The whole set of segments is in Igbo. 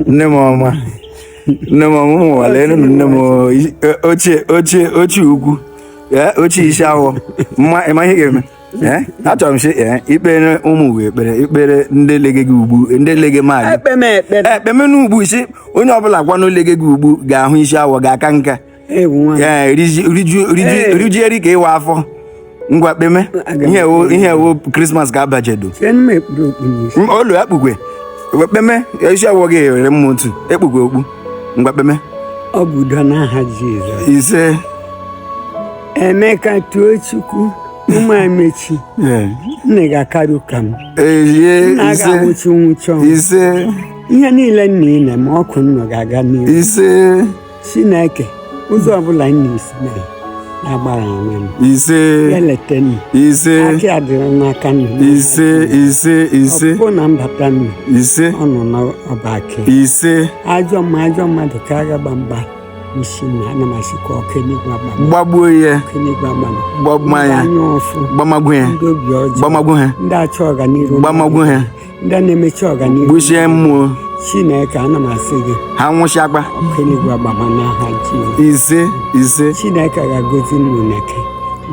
nne m ọma nne m ọma ụmụ ụwa lee nụ nne m ochie ochie ochie ukwu ochie isi awọ mma ị ma ihe ga-eme achọrọ m sị i kpere ụmụ ụwa ekpere i kpere ndị lege gị ugbu ndị lege maadị ekpeme n'ugbu ị sị onye ọbụla kwanụ lege gị ugbu ga-ahụ isi awọ ga-aka nka ewu nwa m. ee riju riju riju Ee. riju eri ka ị waa afọ ngwa kpeme Aga m ihe wụ ekpere. ihe wụ krismas ka a bajedo Sị m ekpuru okpu n'isi. M- olu akpukwe Wee kpeme isi awọ gị ewere mma otu ekpukwe okpu ngwa kpeme Ọ bụ udo n'aha Jizọs. ise Emeka too Chukwu ụmụ emechi ee, nnu ga-akarị ụka m eye nna a ise ga-anwụchi nwụchi ọnwụ ise ihe niile nnu na-eme ọkụ nnọ ga-aga n'ihu ise Chineke ụzọ ọbụla m na-esi mee ya gbara onwe m ise ya leta nnu ise aka ya dịrị n'aka nnu ise ise ise ọpụpụ na mbata nnu ise ọ nọ n'ọba aka ya. ise ajọ mma ajọ mmadụ ka agha gba mgba isi na ana m asịkwa ọkụ eluigwe agbama gbagbuo ya ọkụ eluigwe agbama gbagbuo ndị anya ụfụ gbamagbuo ya ndị obi ọjọọ gbamagbuo ha ndị achọ ọganihu gbamagbuo ha ndị na-emechi ọganihu gbuchie mmụọ chineke ana m asị gị ha nwụchakwa ọkụ enigwe agbama n'aha jizọs ise ise chineke ga-agọzi nnu chineke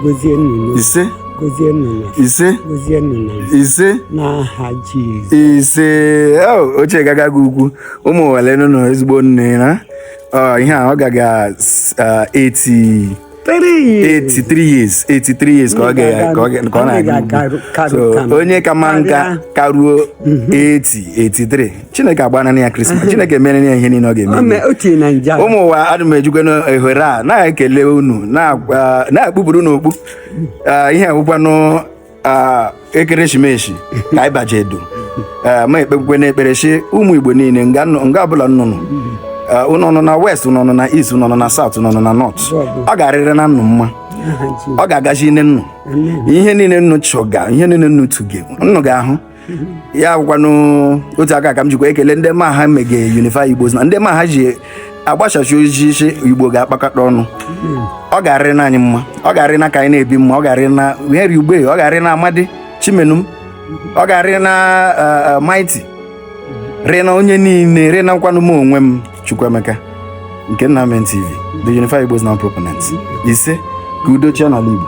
gọzie nnu n'obi, ise gọzie nnu na ise gọzie nnu na nri. ise n'aha jizọs ise o ochie gaga gị ukwu ụmụ ụwa lee nụ na ezigbo nne na ọ ihe a ọ gaga 80 83 years 83 years ka ọ ga- ka ọ ga- ka ọ na-aga So, onye kama nka karuo 80 83 chineke agbana ya krismas chineke mere ya ihe niile ọ ga-eme ome o tiri na nja ụmụ ụwa ana m ejikwanụ ohere a na-ekele unu na-agba- na-ekpupuru unu okpu Ah, ihe agwụkwanụ Ah, ekeresimesi ka anyị bajedo Eh, m ekpekwenụ ekpere sị ụmụ igbo niile nga nọ- nga ọbụla nnụ nọ Eh, unu nọ na west unu nọ na east unu nọ na south unu nọ na north ọ ga-arịrị na nnụ mma ọ ga-agazine nnụ ihe niile nnụ chọga ihe niile nnụ tuge nnụ ga-ahụ ya bụkwanụ otu aka ka m jikwa ekele ndị ma ha mege unified igbos now ndị ma ha ji agbasasị ozi sị igbo ga-akpakọta ọnụ ọ ga-arị na anyị mma ọ ga-arị na ka anyị na-ebi mma ọ ga-arị na henry ugbe ọ ga-arị na amadi chimenum ọ ga-arị na eh, eh, mighty rị na onye niile rị nakwanụ m onwe m Chukwuemeka nke nna men tv the unified Igbos now proponent ise ka udo chịa n'ala Igbo